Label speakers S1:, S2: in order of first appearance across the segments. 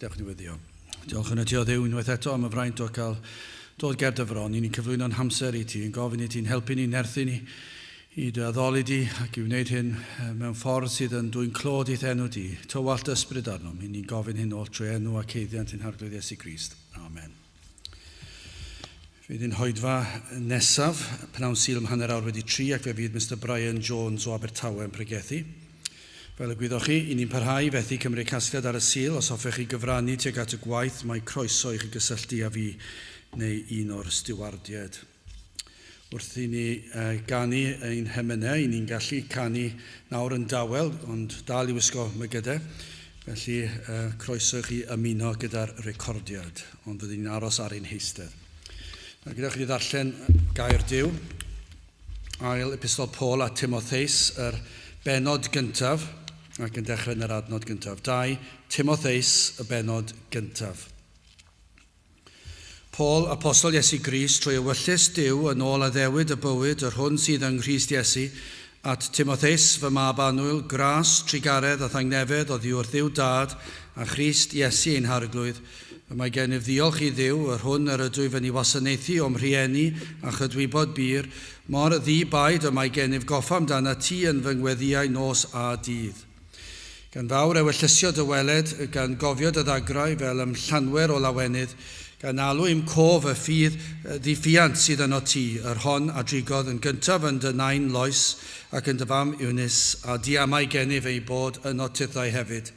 S1: Dewch i ddiweddio. Diolch yn y Tio Dduw unwaith eto am y fraint o cael dod ger dy fron i ni'n cyflwyno'n hamser i ti, yn gofyn i ti'n helpu ni, nerthu ni i dy addoli di ac i wneud hyn mewn ffordd sydd yn dwyn clod i'th enw di. Tywallt dy ysbryd arnom, i ni'n gofyn hyn oll trwy enw ac haeddiant ein Harglwydd Iesu Grist. Amen. Fydd yn hoedfa nesaf, pnawn syl ym hanner awr wedi tri ac fe fydd Mister Brian Jones o Abertawe yn pregethu. Fel y gwyddoch chi, i ni'n parhau i fethu cymryd casgliad ar y Sul. Os hoffech chi gyfrannu tuag at y gwaith, mae croeso i chi gysylltu â fi neu un o'r stiwardiaid. Wrth i ni ganu ein hemynau, i ni'n gallu canu nawr yn dawel, ond dal i wisgo mygydau. Felly, croeso i chi ymuno gyda'r recordiad, ond rydyn ni'n aros ar ein heistedd. Nawr, gyda chi ddarllen gair Duw, ail epistol Paul a Timotheus, yr benod gyntaf, ac yn dechrau yn yr adnod gyntaf. 2 Timotheus, y benod gyntaf. Paul, apostol Iesu Grist, trwy ewyllys Duw yn ôl addewid y bywyd yr hwn sydd yng Nghrist Iesu, at Timotheus, fy mab annwyl, gras, trugaredd a thangnefedd oddi wrth Dduw Dad a Christ Iesu ein Harglwydd, y mae gennyf ddiolch i Dduw, yr hwn yr ydw i fyny wasanaethu o'm rhieni a chydwybod bur, mor ddi-baid y mae gennyf goffa amdanat ti yn fy ngweddïau nos a dydd. Gan fawr ewyllysio dy weled, gan gofio dy ddagrau fel ym Llanwer o lawenydd, gan alw i'm cof y ffydd ddiffuant sydd yno ti, yr hon a drigodd yn gyntaf yn dy nain Lois ac yn dy fam Eunice, a diamau gennyf eu bod yno tithau hefyd.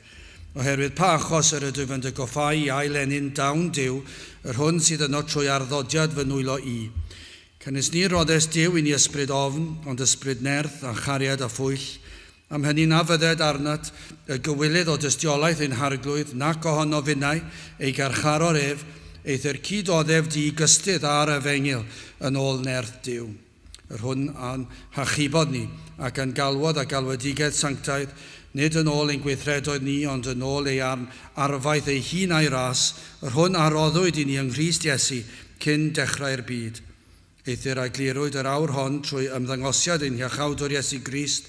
S1: Oherwydd pa achos yr ydwyf yn dy goffáu i ail ennyn dawn Duw, yr hwn sydd yno trwy arddodiad fy nwylo i. Canys ni roddest Duw i ni ysbryd ofn, ond ysbryd nerth, a chariad, a phwyll, Am hynny na fydded arnat y gywilydd o dystiolaeth ein harglwydd, nac ohono finnau, ei garcharor ef, eithr cyd oddef di gystudd â'r efengyl yn ôl nerth Duw, yr hwn a'n hachubod ni, ac a'n galwodd â galwedigedd sanctaidd, nid yn ôl ein gweithredoedd ni, ond yn ôl ei arn arfaeth ei hun a'i ras, yr hwn a roddwyd i ni yng Nghrist Iesu cyn dechrau'r byd. Eithr a eglurwyd yr awr hon trwy ymddangosiad ein Hiachawdwr Iesu Grist,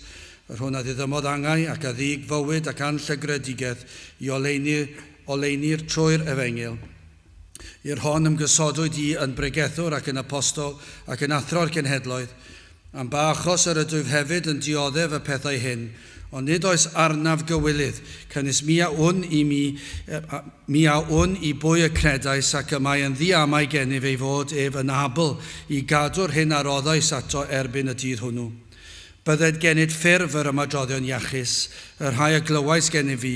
S1: yr hwn a ddiddymodd angau ac a ddug fywyd ac anllygredigaeth i oleuni, oleunir trwy'r Efengyl. I'r hon ymgysodwyd i yn bregethwr ac yn apostol ac yn athro'r genhedloedd. Am ba achos yr ydwyf hefyd yn dioddef y pethau hyn, Ond nid oes arnaf gywilydd, canys mi a wn i mi, mi a wn i bwy y credais, ac y mae yn ddi-amau gennyf ei fod ef yn abl i gadw'r hyn a roddais ato erbyn y dydd hwnnw. Bydded gennyt ffurf yr ymadroddion iachus, y rhai a glywais gennyf fi,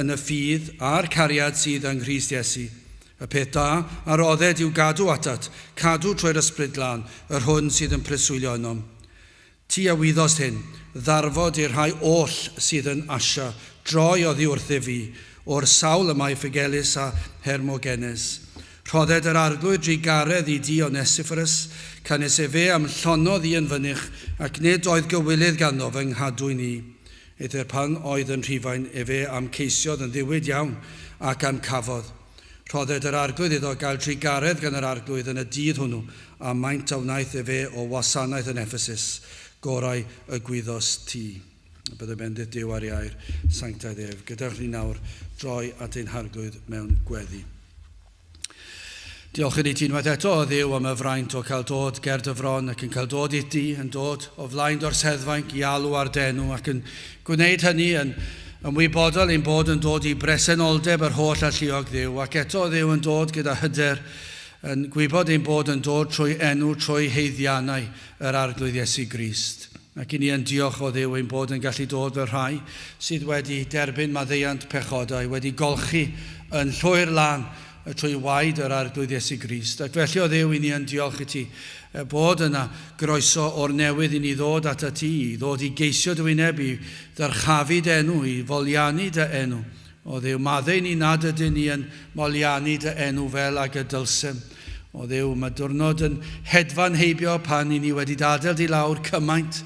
S1: yn y ffydd a'r cariad sydd yng Nghrist Iesu. Y peth da a rodded i'w gadw atat, cadw trwy'r Ysbryd Glân, yr hwn sydd yn preswylio ynom. Ti a wyddost hyn, ddarfod i'r rhai oll sydd yn Asia droi oddi wrthyf fi, o'r sawl y mae Ffygelus a Hermogenes. Rhodded yr Arglwydd drugaredd i di Onesiffrus, canys efe a'm llonodd i yn fynych, ac nid oedd gywilydd ganddo fy nghadwyn i. Eithr pan oedd yn Rhufain efe a'm ceisiodd yn ddiwyd iawn, ac a'm cafodd. Rhodded yr Arglwydd iddo gael drugaredd gan yr Arglwydd yn y dydd hwnnw, a maint a wnaeth efe o wasanaeth yn Effesus, gorau y gwyddos ti. A byddai bendith Duw ar iau'r sanctaidd ef. Gadewch ni nawr droi at ein Harglwydd mewn gweddi. Diolch i ti unwaith eto, o Dduw, am y fraint o cael dod ger dy fron ac yn cael dod i ti, yn dod o flaen dorseddfainc i alw ar d'enw ac yn Gwneud hynny yn ymwybodol ein bod yn dod i bresenoldeb yr holl alluog Dduw, ac eto Dduw yn dod gyda hyder, yn gwybod ein bod yn dod trwy enw, trwy haeddiannau yr Arglwydd Iesu Grist. Ac i ni yn diolch o Dduw ein bod yn gallu dod fel rhai sydd wedi derbyn maddeuant pechodau, wedi golchi yn llwyr lan y trwy waed yr Arglwydd Iesu Grist. Ac felly, o Dduw, i ni yn diolch i ti bod yna groeso o'r newydd i ni ddod at y ti, i ddod i geisio dy wyneb, i ddyrchafu dy enw, i folianu dy enw. O Dduw, maddeu ni nad ydyn ni yn molianu dy enw fel ag y dylsem. O Dduw, mae diwrnod yn hedfan heibio pan i ni wedi dadael di lawr cymaint,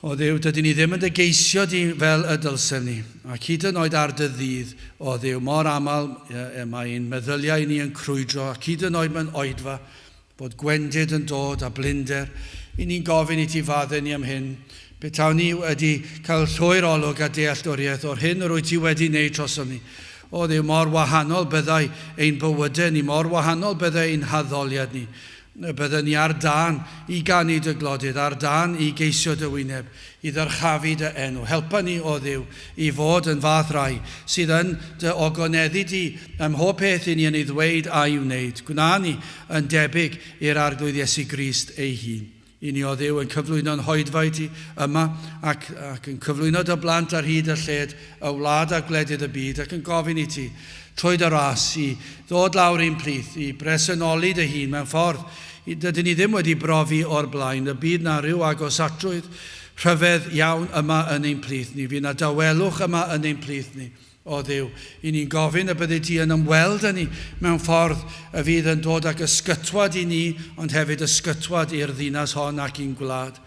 S1: O Dduw, dydy ni ddim yn dy geisio di fel y dylsem ni, ac hyd yn oed ar dy ddydd, o Dduw, mor aml y mae ein meddyliau ni yn crwydro, ac hyd yn oed mewn oedfa, bod gwendid yn dod a blinder, i ni'n gofyn i ti fadde ni am hyn, petawn ni wedi cael llwyr olwg a dealltwriaeth o'r hyn yr wyt ti wedi wneud trosom ni. O Dduw, mor wahanol byddai ein bywydau ni, mor wahanol byddai ein haddoliad ni, Y bydden ni ar dân i ganu dy glodydd, ar dân i geisio dy wyneb, i ddyrchafu dy enw. Helpa ni, O Dduw, i fod yn fath rai sydd yn dy ogoneddu di ym mhob peth i ni yn ei ddweud a'i wneud. Gwna ni yn debyg i'r Arglwydd Iesu Grist ei hun. I ni, O Dduw, yn cyflwyno'n hoedfaid ti yma, ac, ac yn cyflwyno dy blant ar hyd a lled y wlad a gwledydd y byd, ac yn gofyn i ti, trwy dy ras i ddod lawr i'n plith, i bresennoli dy hun mewn ffordd y dydyn ni ddim wedi brofi o'r blaen, y bydd 'na ryw agosatrwydd rhyfedd iawn yma yn ein plith ni, fydd 'na dawelwch yma yn ein plith ni, o Dduw, i ni'n gofyn y byddi di yn ymweld â ni mewn ffordd y fydd yn dod ag ysgytwad i ni, ond hefyd ysgytwad i'r ddinas hon ac i'n gwlad.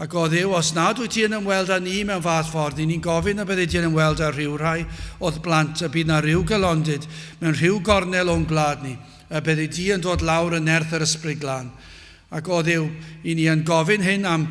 S1: Ac odyw, os nad wyt ti yn ymweld â ni mewn fath ffordd, i ni'n gofyn y byddi di'n ymweld â rhyw rhai o'th blant, y bydd 'na ryw gelondid mewn rhyw gornel o'n gwlad ni, y byddi di yn dod lawr yn nerth yr Ysbryd Glân. Ac odyw, i ni yn gofyn hyn am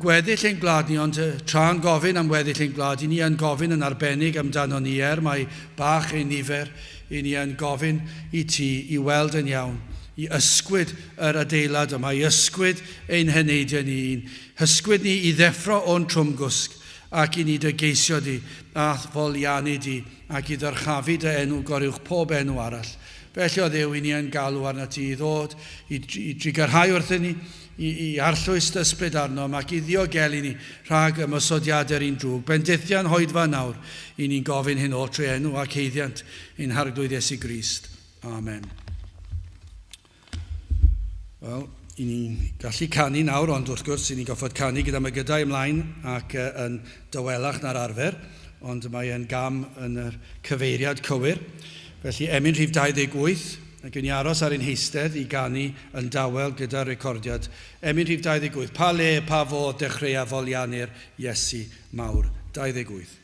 S1: gweddill ein gwlad ni, ond tra'n gofyn am weddill ein gwlad, i ni yn gofyn yn arbennig amdanon ni, er mai bach ein nifer, Y'n ni yn gofyn i ti i weld yn iawn, i ysgwyd yr adeilad yma, i ysgwyd ein heneidiau ni, i'n hysgwyd ni i ddeffro o'n trwmgwsg, ac i ni dy geisio di, a'th folianu di, ac i ddyrchafu dy enw goruwch pob enw arall. Felly, o Dduw, y'n ni yn galw arnat ti i ddod, i, i drigarhau wrthyn ni, i arllwys dy ysbryd arnom, ac i ddiogelu ni rhag ymosodiadau'r un drwg. Bendithia'n hoedfa nawr, i ni'n gofyn hyn o'r trwy enw ac heiddiant ein Harglwydd Iesu Grist. Amen. Wel, i ni'n gallu canu nawr, ond wrth gwrs, i ni'n goffod canu gyda mygydau ymlaen ac uh, yn dywelach na'r arfer, ond mae e'n gam yn y cyfeiriad cywir. Felly, emyn rhif 28, Ac yn aros ar ein heistedd i ganu yn dawel gyda'r recordiad, emyn rhif 28, Pa le, pa fodd dechreuaf folianu'r Iesu mawr? 28.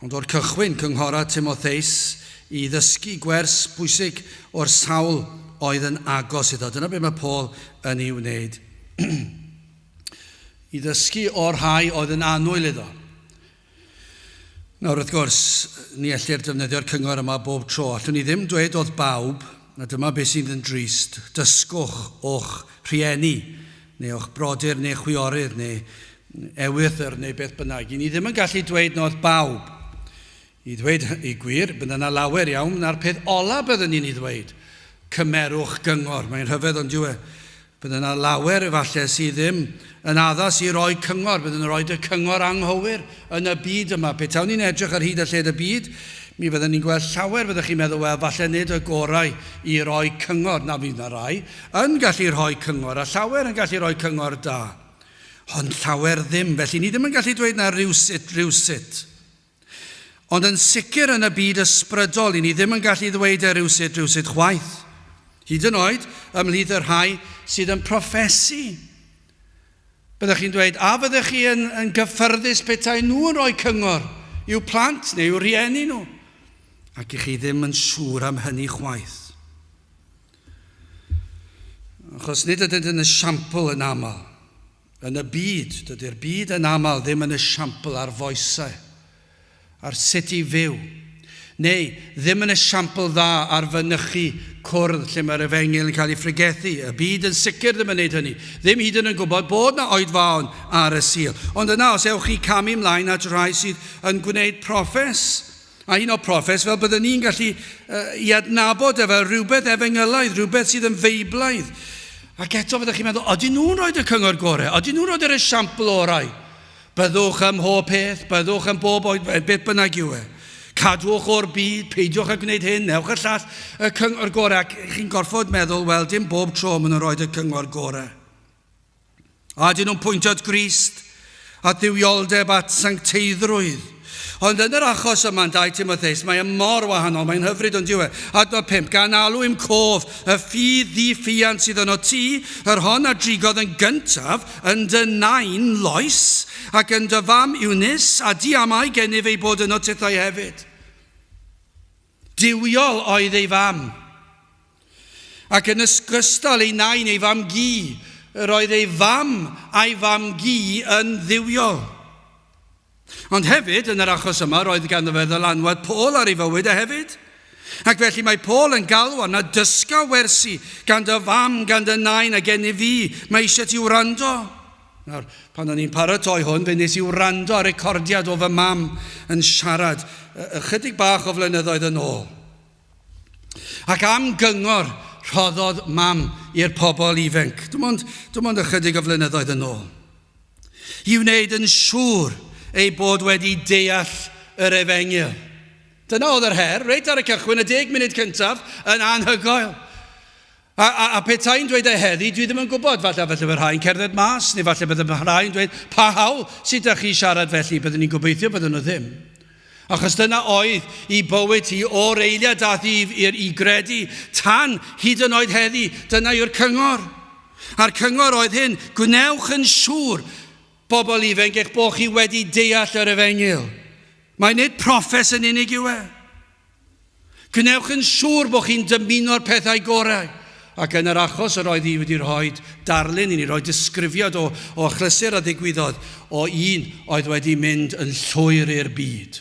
S1: Ond o'r cychwyn, cynghora Timotheus i ddysgu gwers pwysig o'r sawl oedd yn agos iddo. Dyna beth mae Paul yn ei wneud. I ddysgu o'r rhai oedd yn annwyl iddo. Nawr, wrth gwrs, ni ellir defnyddio'r cyngor yma bob tro. Allwn ni ddim dweud oedd bawb, a dyma beth sydd yn drist, dysgwch o'ch rhieni neu o'ch brodyr neu chwiorydd neu ewythr neu beth bynnag. I ni ddim yn gallu dweud na oedd bawb. I ddweud y gwir, bydd yna lawer iawn na'r peth ola byddwn ni'n ei ddweud, cymerwch gyngor. Mae'n rhyfedd ond dyw e. Bydd yna lawer efallai sydd ddim yn addas i roi cyngor, byddwn yn rhoi y cyngor anghywir. Yn y byd yma, petawn ni'n edrych ar hyd a lled y byd, mi fydden ni'n gweld llawer fyddech chi'n meddwl, wel, falle nid y gorau i roi cyngor, na fydd 'na rai yn gallu rhoi cyngor, a llawer yn gallu rhoi cyngor da, ond llawer ddim, felly ni ddim yn gallu dweud na rywsut, rywsut. Ond yn sicr yn y byd ysbrydol, i ni ddim yn gallu ddweud e rywsut, rywsut chwaith, hyd yn oed ymhlith y rhai sydd yn proffesu. Byddech chi'n dweud, 'A fyddech chi yn yn gyffyrddus petaen nhw yn rhoi cyngor i'w plant neu i'w rhieni nhw? Ac i chi ddim yn siŵr am hynny chwaith. Achos nid ydynt yn esiampl yn aml. Yn y byd, dydy'r byd yn aml ddim yn esiampl ar foesau. ar sut i fyw, neu ddim yn esiampl dda ar fynychu cwrdd lle mae'r efengyl yn cael ei phregethu, y byd yn sicr ddim yn neud hynny, ddim hyd yn yn gwybod bod na oedfaon ar y Sul. Ond yna os ewch chi camu mlaen at rhai sydd yn gwneud proffes, a hyd yn oed proffes fel bydden ni'n gallu uh, i adnabod e fel rhywbeth efengylaidd, rhywbeth sydd yn feiblaidd, ac eto fyddech chi'n meddwl, ydyn nhw'n rhoi y cyngor gorau, ydyn nhw'n rhoi yr esiampl orau, Byddwch ym mhob peth, byddwch yn bob oedfaon, beth bynnag yw e. Cadwch o'r byd, peidiwch â gwneud hyn, newch y llall, y cyngor gorau, ac chi'n gorfod meddwl, wel, dim bob tro maen nhw'n rhoi y cyngor gorau. A ydyn nhw'n pwyntio at Grist, at dduwioldeb, at sancteiddrwydd? Ond yn yr achos yma yn 2 Timotheus, mae e mor wahanol, mae'n hyfryd ond dyw e. Adnod 5, gan alw i'm cof y ffydd ddi-ffiant sydd yno ti, yr hon a drigodd yn gyntaf yn dy nain Lois, ac yn dy fam Eunice, a di amau gennyf ei bod yno tithau hefyd. Duwiol oedd ei fam. Ac yn ysgystal ei nain, ei fam gi, yr oedd ei fam a'i fam gi yn dduwiol. Ond hefyd, yn yr achos yma, roedd ganddo fe ddylanwad Paul ar ei fywyd e hefyd. Ac felly mae Paul yn galw arna dysga wersi gan dy fam, gan dy nain a gen i fi, mae eisiau ti wrando. Nawr, pan o'n i'n paratoi hwn, fe nes i wrando ar recordiad o fy mam yn siarad ychydig bach o flynyddoedd yn ôl. Ac am gyngor rhoddodd mam i'r pobl ifenc, dim ond, dim ond ychydig o flynyddoedd yn ôl. i wneud yn siŵr ei bod wedi deall yr efengyl. Dyna oedd yr her, reit ar y cychwyn, y deg munud cyntaf, yn anhygoel. A, a, a petai'n dweud e heddi, dwi ddim yn gwybod, falle felly fy rhai'n cerdded mas, neu falle bydde fy rhai'n dweud, pa hawl sydd da chi siarad felly, byddwn ni'n gobeithio byddwn nhw ddim. Achos dyna oedd i bywyd hi o'r eiliad a ddyf i'r i gredu, tan hyd yn oed heddi, dyna yw'r cyngor. A'r cyngor oedd hyn, gwnewch yn siŵr, bobl ifenc, eich bod chi wedi deall yr efengyl. Mae nid proffes yn unig yw e. Gwnewch yn siŵr bod chi'n dymuno'r pethau gorau, ac yn yr achos yr oedd hi wedi rhoi darlun i ni, rhoi disgrifiad o, o achlysur a ddigwyddodd, o un oedd wedi mynd yn llwyr i'r byd,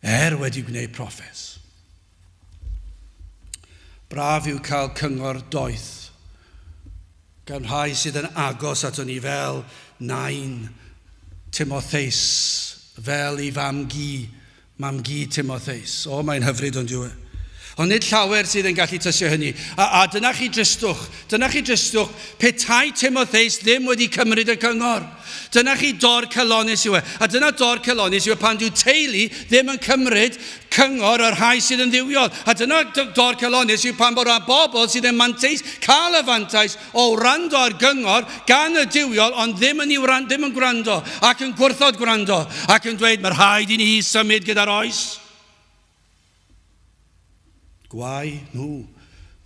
S1: er wedi gwneud proffes. Braf yw cael cyngor doeth gan rhai sydd yn agos ato ni fel Nain, Timotheus, fel i fam-gu, Mam-gu Timotheus. O, mae'n hyfryd, ond yw e? Ond nid llawer sydd yn gallu tysio hynny. A, a dyna chi dristwch. Dyna chi dristwch. Petai Timotheus ddim wedi cymryd y cyngor. Dyna chi dor celonis yw e. A dyna dor celonis yw e pan dyw teulu ddim yn cymryd cyngor o'r rhai sydd yn ddiwiol. A dyna dor celonis yw pan bod rhan bobl sydd yn manteis cael y fantais o wrando ar gyngor gan y duwiol ond ddim yn, wran, ddim yn gwrando ac yn gwrthod gwrando ac yn dweud mae rhaid i ni symud gyda'r oes. Gwau nhw,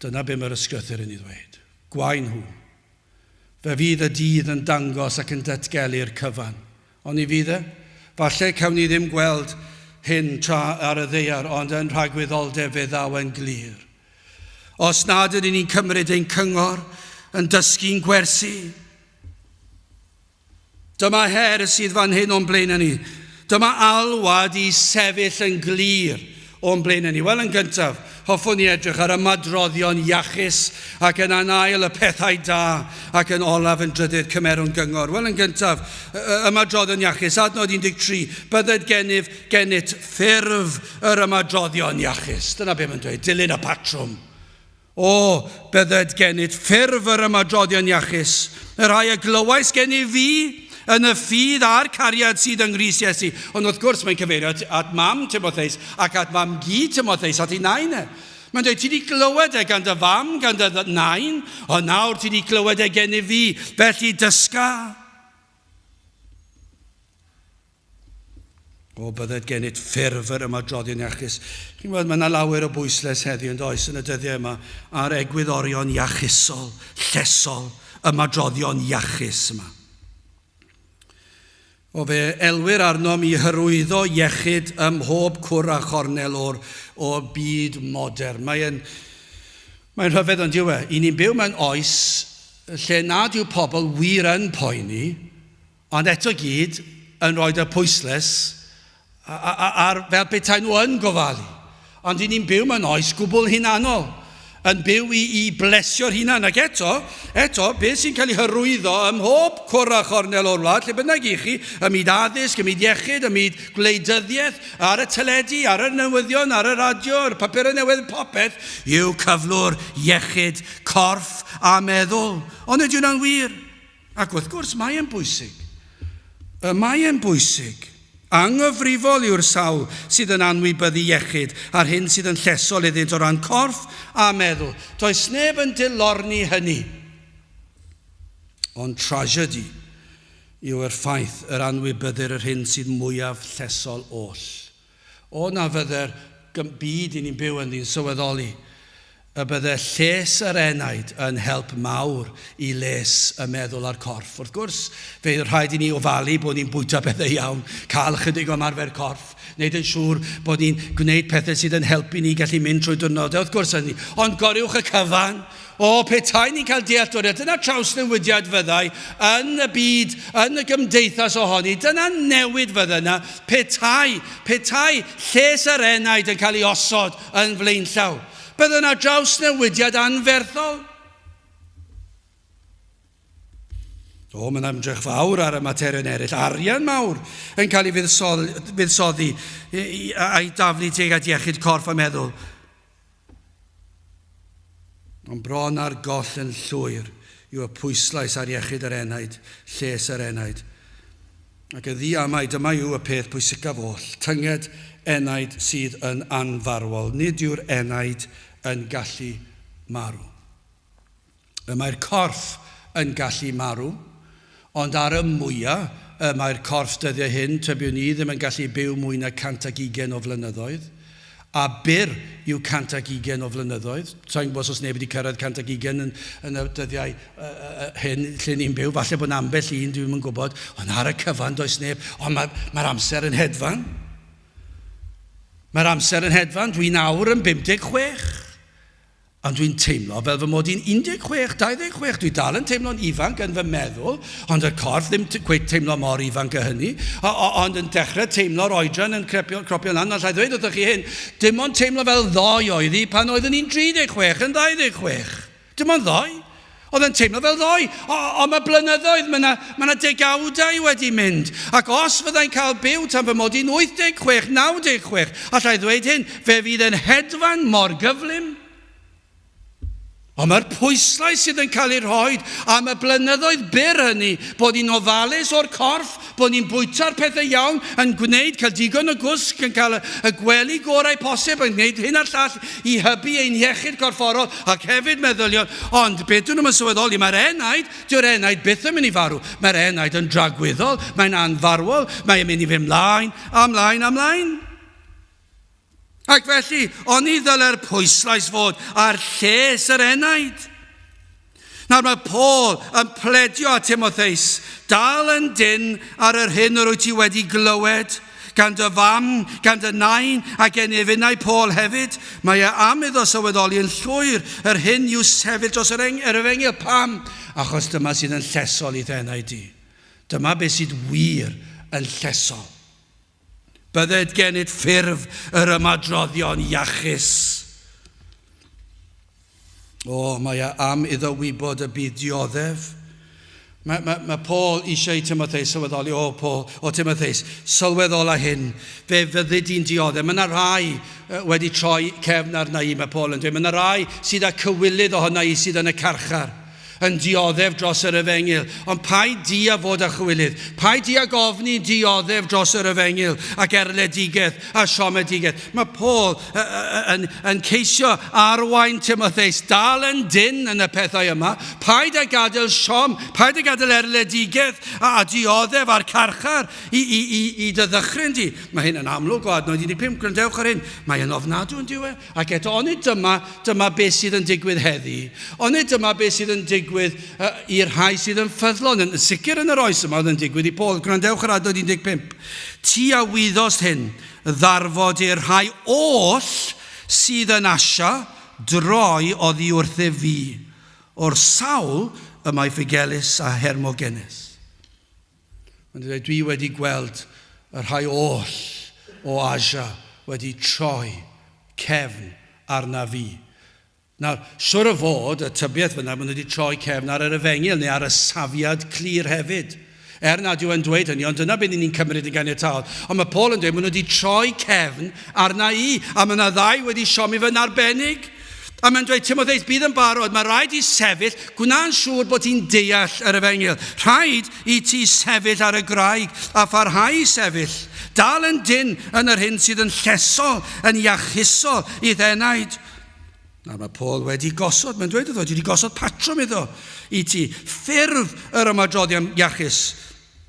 S1: dyna be mae'r ysgrythyr yn ei ddweud. Gwau nhw. Fe fydd y dydd yn dangos ac yn datgelu'r cyfan. Oni fydd e? Falle cawn ni ddim gweld hyn tra ar y ddaear, ond yn rhagwyddoldeb fe ddaw e'n glir. Os nad ydyn ni'n cymryd ein cyngor yn dysgu'n gwersi, dyma her sydd fan hyn o'n blaenau ni. Dyma alwad i sefyll yn glir O'n blaenau ni? Wel, yn gyntaf, hoffwn i edrych ar ymadroddion iachus ac yn anail y pethau da ac yn olaf yn drydydd cymerwn gyngor. Wel, yn gyntaf, ymadroddion iachus, adnod 13, bydded gennyf gennyt ffurf yr ymadroddion iachus. Dyna beth mae'n dweud, dilyn y patrwm. O, bydded gennyt ffurf yr ymadroddion iachus, y rhai y glywais gen i fi, yn y ffydd a'r cariad sydd yng Nghrist Iesu. Ond wrth gwrs, mae'n cyfeirio at, at mam Timotheus ac at mam gi Timotheus, at ei nain e. Mae'n dweud, ti wedi glywed e gan dy fam, gan dy nain, ond nawr ti wedi glywed e gen i fi, felly dysga. O, bydded gennyt ffurf yr ymadroddion iachus. Chi'n gwybod, mae yna lawer o bwysles heddiw, yn does, yn y dyddiau yma, ar egwyddorion iachusol, llesol, ymadroddion iachus yma. O fe elwyr arnom i hyrwyddo iechyd ym mhob cwr a chornel o'r, o'r byd modern. Mae'n mae rhyfedd ond diwe. I ni'n byw mewn oes lle nad yw pobl wir yn poeni Ond eto i gyd yn rhoid y pwyslais ar fel petai nhw yn gofalu. Ond dyn ni'n byw mewn oes gwbl hunanol, yn byw i, i blesio'r hunan. Ac eto, eto, beth sy'n cael ei hyrwyddo ym mhob cwr a chornel o'r wlad, lle bynnag i chi, ym myd addysg, ym myd iechyd, ym myd gwleidyddiaeth, ar y teledu, ar y newyddion, ar y radio, ar y papurau newydd, popeth, yw cyflwr iechyd corff a meddwl. Ond ydy hwnna'n wir? Ac wrth gwrs, mae e'n bwysig. Y mae e'n bwysig. Anghyfrifol yw'r sawl sydd yn anwybyddu iechyd a'r hyn sydd yn llesol iddynt o ran corff a meddwl. Does neb yn dilorni hynny. Ond tragedy yw yr ffaith yr anwybyddir yr hyn sydd mwyaf llesol oll. O na fydde'r byd i ni'n byw ynddi'n sylweddoli y bydde lles yr enaid yn help mawr i les y meddwl a'r corff. Wrth gwrs, fe fydd rhaid i ni ofalu bod ni'n bwyta pethau iawn, cael ychydig o ymarfer corff, wneud yn siŵr bod ni'n gwneud pethau sydd yn helpu ni gallu mynd trwy diwrnodau, wrth gwrs hynny, ond goriwch y cyfan! O, petai ni'n cael dealltwriaeth, dyna trawsnewidiad fyddai yn y byd, yn y gymdeithas ohoni. Dyna newid fydde yna. Petai, petai lles yr enaid yn cael ei osod yn flaenllaw. Bydde yna drawsnewidiad anferthol. O, mae'n ymdrech fawr ar y materion eraill. Arian mawr yn cael ei fuddsoddi a'i daflu tuag at iechyd corff a meddwl. Ond bron ar goll yn llwyr yw y pwyslais ar iechyd yr enaid, lles yr enaid. Ac yn ddiamau, dyma yw y peth pwysicaf oll, tynged enaid sydd yn anfarwol, nid yw'r enaid yn gallu marw. y mae'r corff yn gallu marw, ond ar y mwya y mae'r corff dyddiau hyn, tybiwn ni, ddim yn gallu byw mwy na 120 o flynyddoedd, a byr yw 120 o flynyddoedd, sa i'n gwybod os oes neb wedi cyrraedd 120 yn, yn y dyddiau hyn lle ni'n byw, falle bod yna ambell un, dwi ddim yn gwybod, ond ar y cyfan does neb, ond mae, mae'r amser yn hedfan. Mae'r amser yn hedfan, dwi'n awr yn 56. Ond dwi'n teimlo fel fy mod i'n 16, 26, dwi dal yn teimlo'n ifanc yn fy meddwl, ond 'r corff ddim cweit teimlo mor ifanc a hynny, o- o- ond yn dechre teimlo'r oedran yn crepio, cropio lan, ond 'llai ddweud wrthoch chi hyn, dim ond teimlo fel ddoe oedd hi pan oeddwn i'n 36 yn 26. Dim ond ddoe. Oedd yn teimlo fel ddoe, o, ond mae blynyddoedd, mae yna, mae yna degawdau wedi mynd. Ac os fyddai'n cael byw tan fy mod i'n 86, 96, allai ddweud hyn, fe fydd yn hedfan mor gyflym. Ond mae'r pwyslais sydd yn cael ei rhoi am y blynyddoedd byr hynny, bod ni'n ofalus o'r corff, Bod ni'n bwyta'r pethau iawn, yn gwneud, cael digon o gwsg, yn cael y gwely gorau posib, yn gwneud hyn a'r llall i hybu ein hiechyd corfforol ac hefyd meddyliol, ond be dyn nhw'm yn sylweddoli, mae'r enaid, dyw'r enaid byth yn mynd i farw, mae'r enaid yn dragwyddol, mae'n anfarwol, mae'n mynd i fynd mlaen a mlaen a mlaen. Ac felly, oni ddylai'r pwyslais fod ar lles yr enaid? Nawr mae Paul yn pledio a Timotheus, dal yn dyn ar yr hyn yr wyt ti wedi glywed, gan dy fam, gan dy nain, a gen ef unau Paul hefyd, mae e am iddo sylweddoli yn llwyr yr hyn i'w sefyll dros yr, eng, yr efengyl. Pam? Achos dyma sydd yn llesol i'th enaid di. Dyma beth sydd wir yn llesol. Bydded genyd ffurf yr ymadroddion iachus. O, mae e am iddo wybod y byd dioddef. Mae, mae, mae Paul eisiau i Timotheus sylweddoli, o Paul, o Timotheus, sylweddola hyn, fe fyddi di'n dioddef. Mae yna rhai uh, wedi troi cefn arna i, mae Paul yn dweud. Mae yna rhai sydd â cywilydd ohona i sydd yn y carchar. yn dioddef dros yr efengyl, ond paid di a fod â chywilydd, paid di ag ofni dioddef dros yr efengyl, ac erledigaeth a siomedigaeth. Mae Paul yn, yn ceisio arwain Timotheus, dal yn dyn yn y pethau yma, paid a gadael siom, paid a gadael erledigaeth a, a dioddef a'r carchar i, i, i, i dy ddychryn di. Mae hyn yn amlwg o adnod 15, gwrandewch ar hyn, mae'n ofnadw yn diwe, Ac eto, onid dyma, dyma beth sydd yn digwydd heddi? Onid dyma beth sydd yn digwydd uh, i'r rhai sydd yn ffyddlon, yn sicr yn yr oes yma oedd yn digwydd i Paul. Gwrandewch yr adnod 15. Ti a wyddost hyn, ddarfod i'r rhai oll sydd yn asio droi oddi wrthef fi, o'r sawl y mae Figelis a Hermogenes. Ond dydw i dwi wedi gweld y rhai oll o Asia wedi troi cefn arna fi. Nawr, siwr o fod, y tybiaeth fyddai, maen nhw wedi troi cefn ar yr efengyl, neu ar y safiad clir hefyd. Er nad yw e'n dweud hynny, ond dyna beth ni'n ni'n cymryd yn ganiataol. Ond mae Paul yn dweud, maen nhw wedi troi cefn arna i, a mae yna ddau wedi siomi fy narbennig. A mae'n dweud, Timotheus, bydd yn barod, mae rhaid i sefyll, gwna'n siŵr bod ti'n deall yr efengyl. Rhaid i ti sefyll ar y graig a pharhau i sefyll. Dal yn dyn yn yr hyn sydd yn llesol, yn iachusol i ddenaid. Nawr mae Paul wedi gosod, mae'n dweud iddo, ti wedi gosod patrwm iddo i ti, ffurf yr ymadroddion iachus,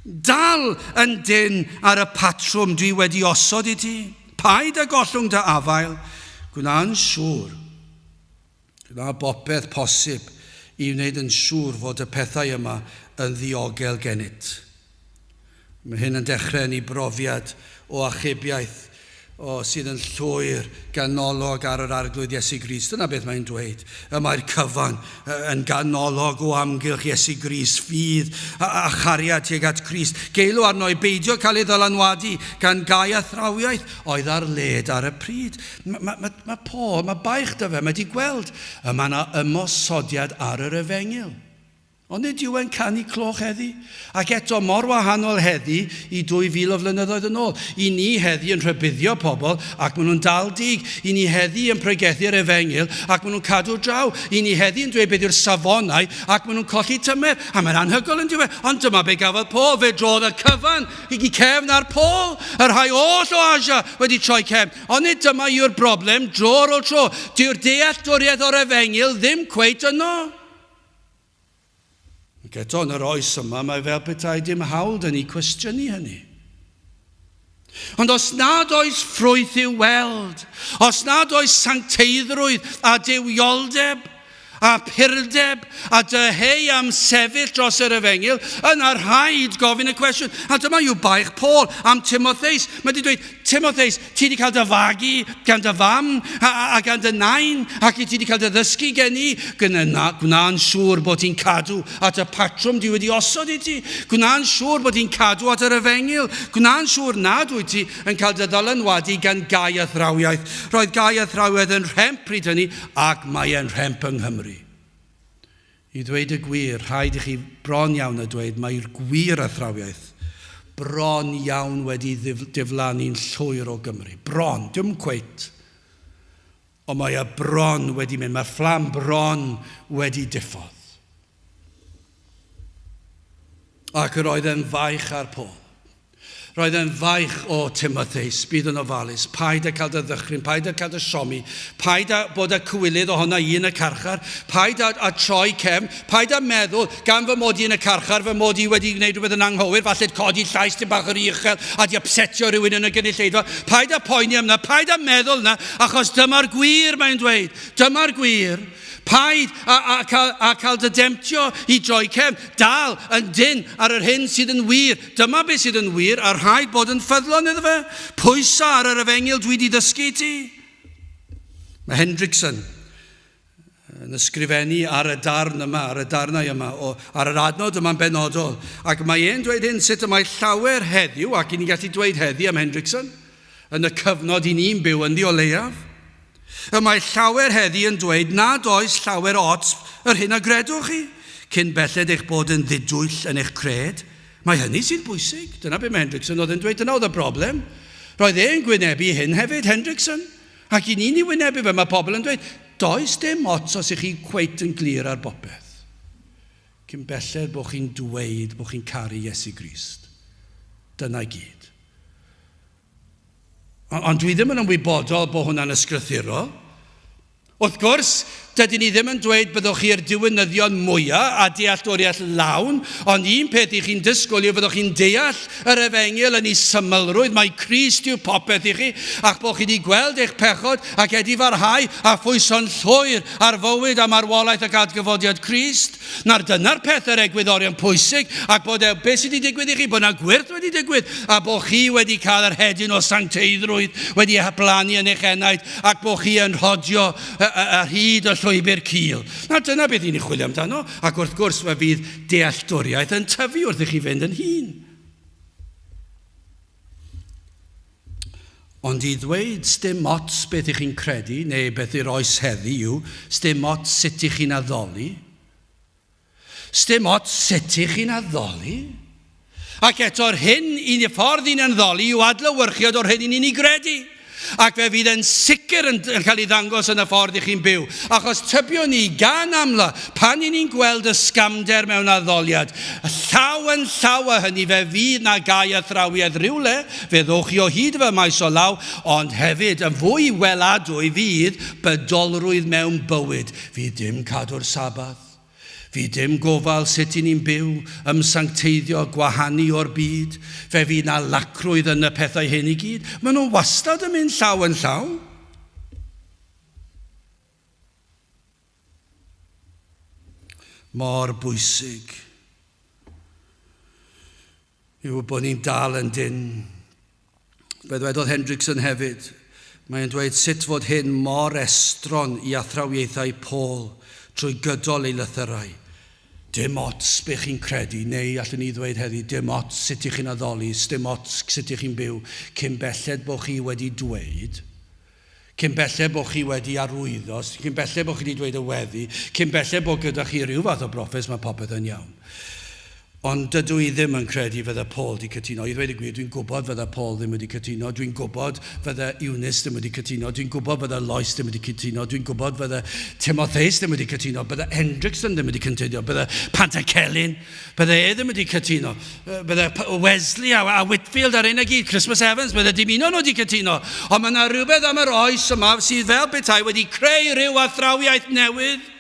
S1: Dal yn dynn ar y patrwm dwi wedi osod i ti. Paid â gollwng dy afael. Gwna'n siŵr. Gwna bopeth posib i wneud yn siŵr fod y pethau yma yn ddiogel gennyt. Mae hyn yn dechrau yn ei brofiad o achubiaeth O, sydd yn llwyr, ganolog ar yr Arglwydd Iesu Grist. Dyna beth mae'n dweud. Y mae'r cyfan yn ganolog o amgylch Iesu Grist, ffydd a, a chariad tuag at Grist. Geilw arno i beidio cael ei ddylanwadu gan gau a thrawiaeth oedd ar led ar y pryd. Mae, mae, mae, mae Paul, mae baich da fe, mae wedi gweld, y mae yna ymosodiad ar yr efengyl. Ond nid yw'n canu cloch heddi. Ac eto, mor wahanol heddi i 2000 o flynyddoedd yn ôl. I ni heddi yn rhybuddio pobl ac maen nhw'n dal dig. I ni heddi yn pregethu'r efengyl ac maen nhw'n cadw draw. I ni heddi yn dweud beth yw'r safonau ac maen nhw'n colli tymer. A mae'n anhygoel yn dyw e? Ond dyma be gafodd Paul. Fe drodd y cyfan i cefn ar Paul. Y rhai oll o Asia wedi troi cefn. Ond nid dyma yw'r broblem dro ar ôl tro. Dyw'r dealltwriaeth o'r efengyl ddim cweit yno. Ac eto, yn yr oes yma, mae fel petai dim hawl da ni cwestiynu hynny. Ond os nad oes ffrwyth i'w weld, os nad oes sancteiddrwydd a dywioldeb a purdeb a dyheu am sefyll dros yr efengyl, yna rhaid gofyn y cwestiwn. A dyma yw baich Paul am Timotheus. Mae wedi dweud, Timotheus, ti wedi cael dy fagu gan dy fam a, a, a gan dy nain, ac i ti wedi cael dy ddysgu gen i, gwna, gwna'n siŵr bod ti'n cadw at y patrwm di wedi osod i ti, gwna'n siŵr bod ti'n cadw at yr efengyl, gwna'n siŵr nad wyt ti yn cael dy ddylanwadu gan gau a thrawiaeth. Roedd gau a thrawiaeth yn rhemp pryd hynny, ac mae e'n rhemp yng Nghymru. I ddweud y gwir, rhaid i chi bron iawn â dweud mai'r gwir athrawiaeth bron iawn wedi diflannu'n llwyr o Gymru. Bron! Dim cweit! Ond mae e bron wedi mynd. Mae'r fflam bron wedi diffodd. Ac yr oedd e'n faich ar Paul. Roedd e'n faich o Timotheus, bydd yn ofalus, paid â cael dy ddychryn, paid â cael dy siomi, paid â bod â cywilydd ohona i yn y carchar, paid â, â troi cefn, paid â meddwl, gan fy mod i yn y carchar, fy mod i wedi gwneud rhywbeth yn anghywir, falle'n codi llais dim bach yn rhy uchel a di upsetio rhywun yn y gynulleidfa, paid â poeni am na, paid â meddwl na, achos dyma'r gwir mae'n dweud, dyma'r gwir, paid a, a, cael, a cael dy demtio i droi cefn, dal yn dyn ar yr hyn sydd yn wir, Dyma beth sydd yn wir, a rhaid bod yn ffyddlon iddo fe. Pwysa ar yr efengyl dwi di ddysgu i ti. Mae Hendrickson yn ysgrifennu ar y darn yma, ar y darnau yma, o, ar yr adnod yma'n benodol, ac mae e'n dweud hyn sut y mae llawer heddiw, ac i ni'n gallu dweud heddi am Hendrickson, yn y cyfnod i ni'n byw ynddi o leiaf, Y mae llawer heddi yn dweud nad oes llawer ots yr hyn a gredwch chi, cyn belled eich bod yn ddidwyll yn eich cred. Mae hynny sy'n bwysig. Dyna be mae Hendrickson oedd yn dweud, dyna oedd y broblem. Roedd e'n gwynebu hyn hefyd, Hendrickson. Ac i ni'n ei wynebu fe, mae pobl yn dweud, does dim ots os ych chi cweit yn glir ar bopeth. Cyn belled bod chi'n dweud bod chi'n caru Iesu Grist. Dyna i gyd. Ond dwi ddim yn ymwybodol bod hwnna'n ysgrythurol. Wrth gwrs, dydyn ni ddim yn dweud byddwch chi yr diwynyddion mwyaf a dealltwriaeth lawn, ond un peth i chi'n dysgwyl yw fyddwch chi'n deall yr efengyl yn ei symlrwydd, mae Crist yw popeth i chi, a'ch bod chi wedi gweld eich pechod ac edifarhau a phwyso'n llwyr ar fywyd a marwolaeth ac adgyfodiad Crist. Nawr, dyna'r peth yr egwyddorion pwysig, ac bod e, beth sydd wedi digwydd i chi, bod yna gwyrth wedi digwydd, a bod chi wedi cael yr hedyn o sancteiddrwydd wedi ei hablannu yn eich enaid, ac bod chi yn rhodio ar hyd y llwybr cil. Nawr, dyna beth i ni chwilio amdano, ac wrth gwrs fe fydd dealltwriaeth yn tyfu wrth i chi fynd yn hun. Ond i ddweud sdim ots beth y'ch chi'n credu neu beth yw'r oes heddi yw sdim ots sut y'ch chi'n addoli. Sdim ots sut y'ch chi'n addoli. Ac eto'r hyn un y ffordd i'n anddoli yw adlewyrchiad o'r hyn i'n ni'n ei gredu. Ac fe fydd e'n sicr yn cael ei ddangos yn y ffordd i chi'n byw, achos tybio ni gan amla, pan i ni'n gweld y sgamder mewn addoliad, llaw yn llaw â hynny fe fydd 'na gau a thrawiad rhywle, fe ddowch chi o hyd i fy maes o law, ond hefyd, yn fwy weladwy, fydd bydolrwydd mewn bywyd, fydd dim cadw'r Sabbath. Fydd dim gofal sut i ni'n byw, ymsancteiddio a gwahanu o'r byd. Fe fydd 'na lacrwydd yn y pethau hyn i gyd. Maen nhw wastad yn mynd llaw yn llaw. Mor bwysig yw bod ni'n dal yn dyn. Be ddwedodd Hendrickson hefyd? Mae'n dweud sut fod hyn mor estron i athrawiaethau Paul trwy gydol ei lythyrau. Dim ots be chi'n credu, neu allwn ni ddweud heddi, dim ots sut ych chi'n addoli, sdim ots sut ych chi'n byw, cyn belled bo chi wedi dweud, cyn belled bo' chi wedi arwyddo, cyn belled bo' chi 'di dweud y weddi, cyn belled bo' gyda chi ryw fath o brofes, mae popeth yn iawn. Ond dydw i ddim yn credu fydde Paul 'di cytuno. I ddweud y gwir, dwi'n gwybod fydde Paul ddim wedi cytuno, dwi'n gwybod fydde Eunice ddim wedi cytuno, dwi'n gwybod fydde Lois ddim wedi cytuno, dwi'n gwybod fydde Timotheus ddim wedi cytuno, bydde Hendrickson ddim wedi cytuno, bydde Pantycelyn, Bydde e ddim wedi cytuno. Bydde Wesley a, a Whitfield ar ein y gyd, Christmas Evans, bydde dim un o'n nhw wedi cytuno. Ond mae yna rhywbeth am yr oes yma sydd fel bethau wedi creu rhyw athrawiaeth newydd.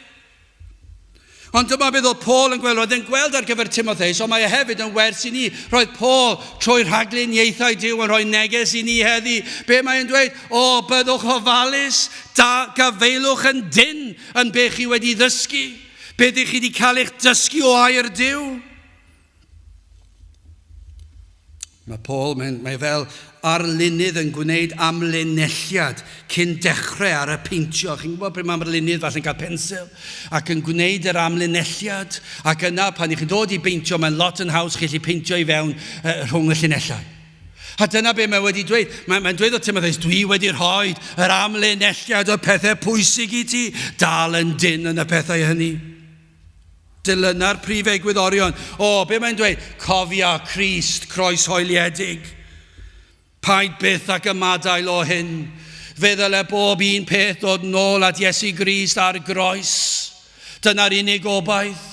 S1: Ond dyma beth oedd Paul yn gweld. Roedd e'n gweld ar gyfer Timotheus, ond mae e hefyd yn wers i ni. Roedd Paul trwy rhaglun ieithau Dyw yn rhoi neges i ni heddi. Be mae e'n dweud? O, byddwch ofalus, da, gafaelwch yn dyn yn be chi wedi ddysgu. Be ydych chi wedi cael eich dysgu o air Dyw? Mae Paul, mae, mae fel arlunydd yn gwneud amlinelliad cyn dechrau ar y peintio. Chi'n gwybod pryd mae arlunydd falle'n cael pensil ac yn gwneud yr amlinelliad ac yna pan ych chi'n dod i beintio mae'n lot yn haws chi chi peintio i fewn uh, rhwng y llinellau. A dyna be mae wedi dweud. Mae, mae'n dweud o Timotheus, dwi wedi rhoi yr amlinelliad o pethau pwysig i ti, dal yn dyn yn y pethau hynny. Dilyna'r prif egwyddorion. O, be mae'n dweud? Cofia Christ, croes hoeliedig. Paid byth ac ymadael o hyn. Fe ddyle bob un peth dod nôl at Iesu Grist ar groes. Dyna'r unig obaith.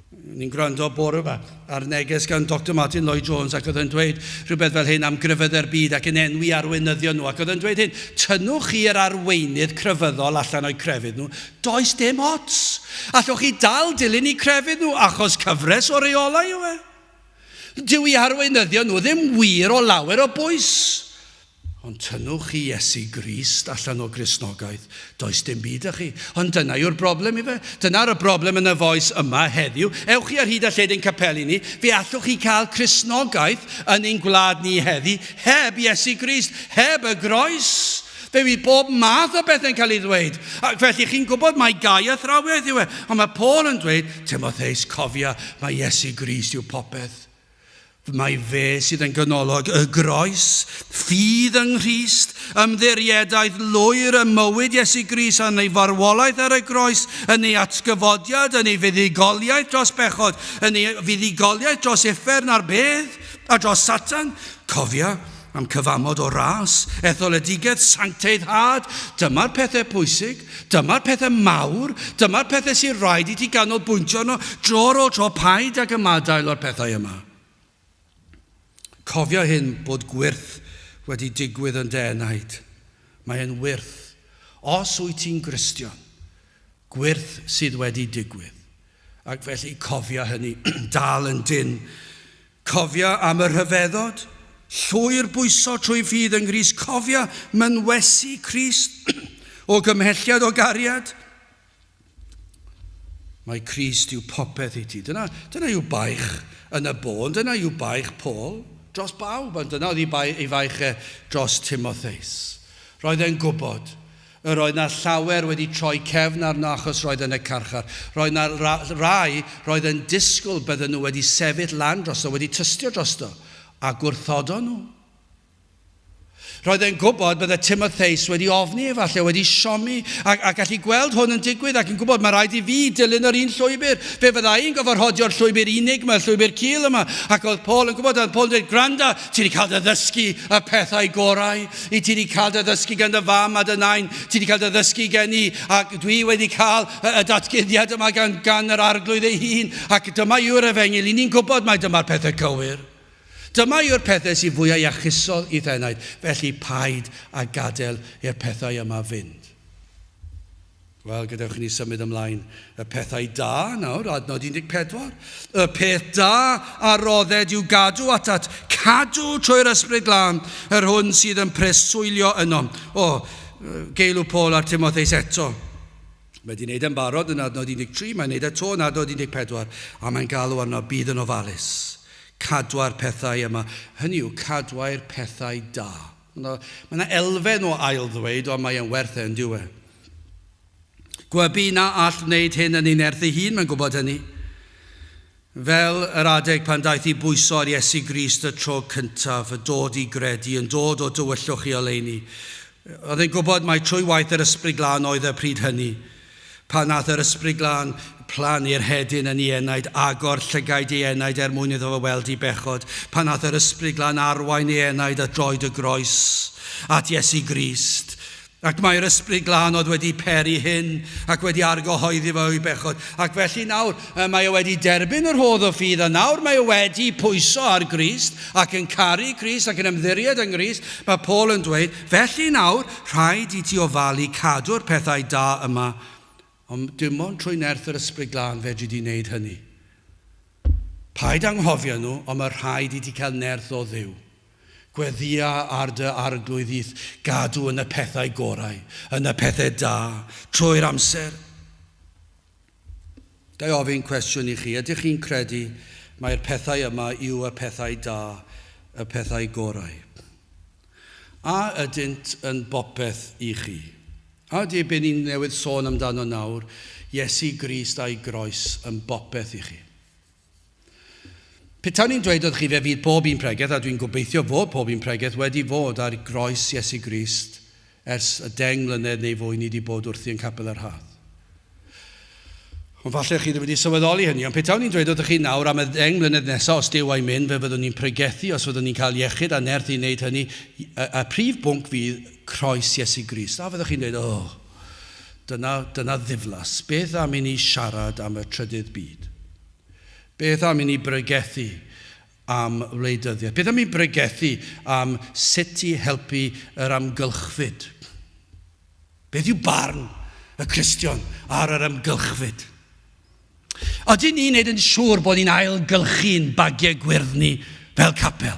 S1: Ni'n gwrando bore 'ma ar neges gan Doctor Martyn Lloyd Jones ac oedd yn dweud rhywbeth fel hyn am grefyddau'r byd ac yn enwi arweinyddion nhw ac oedd yn dweud hyn, tynnwch chi yr arweinydd crefyddol allan o'u crefydd nhw, does dim ots! Allwch chi dal dilyn eu crefydd nhw achos cyfres o reolau yw e. Dyw eu harweinyddion nhw ddim wir o lawer o bwys. Ond tynnwch chi Iesu Grist allan o Gristnogaeth, does dim byd 'da chi. Ond dyna yw'r broblem, ife? Dyna'r y broblem yn y Voice yma heddiw. Ewch chi ar hyd a lled ein capeli ni, fe allwch chi cael Cristnogaeth yn ein gwlad ni heddi, heb Iesu Grist, heb y Groes. Fe fydd bob math o bethau'n cael ei ddweud. Ac felly, chi'n gwybod, mae gau a thrawiaeth yw e. Ond mae Paul yn dweud, Timotheus, cofia, mae Iesu Grist yw popeth. Mae fe sydd yn ganolog y groes, ffydd yng Nghrist, ymddiriedaeth lwyr ym mywyd Iesu Grist yn ei farwolaeth ar y groes, yn ei atgyfodiad, yn ei fuddugoliaeth dros bechod, yn ei fuddugoliaeth dros uffern a'r bedd, a dros Satan. Cofia, Am cyfamod o ras, etholedigaeth, sancteiddhad, dyma'r pethau pwysig, dyma'r pethau mawr, dyma'r pethau sy'n rhaid i ti ganolbwyntio arno dro ar ôl tro, paid ag ymadael â'r pethau yma. Cofia hyn bod gwyrth wedi digwydd yn Dee Night. Mae e'n wyrth. Os wyt ti'n Gristion, gwyrth sydd wedi digwydd. Ac felly cofia hynny, dal yn dyn. Cofia am y rhyfeddod, llwyr bwyso trwy ffydd yng Nghrist Cofia mynwesu Crist o gymhelliad o gariad Mae Crist yw popeth i ti Dyna, dyna yw baich yn y bôn Dyna yw baich Paul dros bawb Ond dyna oedd ei, bai, ei faich e dros Timotheus Roedd e'n gwybod Yr oedd 'na llawer wedi troi cefn arno achos roedd yn y carchar. Roedd 'na rai roedd yn disgwyl bydden nhw wedi sefyll lan drosto, wedi tystio drosto, a gwrthodon nhw. Roedd e'n gwybod bydde Timotheus wedi ofni efallai, wedi siomi, a, a gallu gweld hwn yn digwydd ac yn gwybod mae rhaid i fi dilyn yr un llwybr. Fe fyddai i'n gofod rhodio'r llwybr unig yma, llwybr cil yma. Ac oedd Paul yn gwybod, oedd Paul yn dweud, gwranda, Ti wedi cael dy ddysgu y pethau gorau. I ti wedi cael dy ddysgu gan dy fam a dy nain. Ti wedi cael dy ddysgu gen i. Ac dwi wedi cael y, y datguddiad yma gan, gan yr arglwydd ei hun. Ac dyma yw'r efengil. I ni'n gwybod mae dyma'r pethau cywir. Dyma yw'r pethau sy'n fwyau iachusol i'th enaid. Felly paid a gadael i'r pethau yma fynd. Wel, gadewch i ni symud ymlaen. Y pethau da, nawr, adnod 14. Y peth da a rodded yw gadw atat, cadw trwy'r Ysbryd Glân, yr hwn sydd yn preswylio yno. O, geilw Paul ar Timotheus eto. Mae wedi gwneud e'n barod yn adnod 13, mae'n gwneud eto yn adnod 14, a mae'n galw arno bydd yn ofalus. Cadwa'r pethau yma. Hynny yw, cadwai'r pethau da. Mae 'na elfen o ail-ddweud, ond mae e'n werth e, yn dyw e? Gwybu na all wneud hyn yn ei nerth ei hun, mae'n gwybod hynny. Fel yr adeg pan daeth i bwyso ar Iesu Grist y tro cyntaf, y dod i gredu yn dod o dywyllwch i oleuni. Oedd e'n gwybod mai trwy waith yr Ysbryd Glân oedd e pryd hynny. Pan wnaeth yr Ysbryd Glân plannu'r hedyn yn ei enaid, agor llygaid ei enaid er mwyn iddo fo weld i bechod, pan wnaeth yr Ysbryd Glân arwain ei enaid at droed y groes, at Iesu Grist, ac mai'r Ysbryd Glân oedd wedi peri hyn ac wedi argyhoeddi fo o'i bechod, ac felly nawr mae o wedi derbyn y rhodd o ffydd a nawr mae o wedi pwyso ar Grist ac yn caru Crist ac yn ymddiried yng Nghrist, mae Paul yn dweud, Felly nawr, rhaid i ti ofalu cadw'r pethau da yma, ond dim ond trwy nerth yr Ysbryd Glân fedri di wneud hynny. Paid anghofio nhw, ond mae rhaid i ti cael nerth o Dduw. Gweddïa ar dy Arglwydd i'th gadw yn y pethau gorau, yn y pethau da, trwy'r amser. Ga i ofyn cwestiwn i chi? Ydych chi'n credu mai'r pethau yma yw y pethau da, y pethau gorau? A ydynt yn bopeth i chi? A ydy be ni newydd sôn amdano nawr, Iesu Grist a'i groes, yn bopeth i chi? Petawn i'n dweud wrth chi fe fydd pob un pregeth, a dwi'n gobeithio fod pob un pregeth wedi fod ar groes Iesu Grist ers y deng mlynedd neu fwy ni wedi bod wrthi yn Capel yr Haf. Ond falle chi ddim wedi sylweddoli hynny, ond petawn i'n dweud wrth chi nawr am y ddeng mlynedd nesaf os Duw a'i mynd, fe fyddwn ni'n pregethu os fyddwn ni'n cael iechyd a nerth i wneud hynny, y, y prif bwnc fydd croes Iesu Grist. A fyddwch chi'n dweud, oh, Dyna, dyna ddiflas. Beth am i ni siarad am y trydydd byd? Beth am i ni bregethu am wleidyddiaeth? Beth am i bregethu am sut i helpu yr amgylchfyd? Beth yw barn y Cristion ar yr amgylchfyd? Ydyn ni'n neud yn siŵr bod ni'n ailgylchu'n bagiau gwyrdd ni fel capel?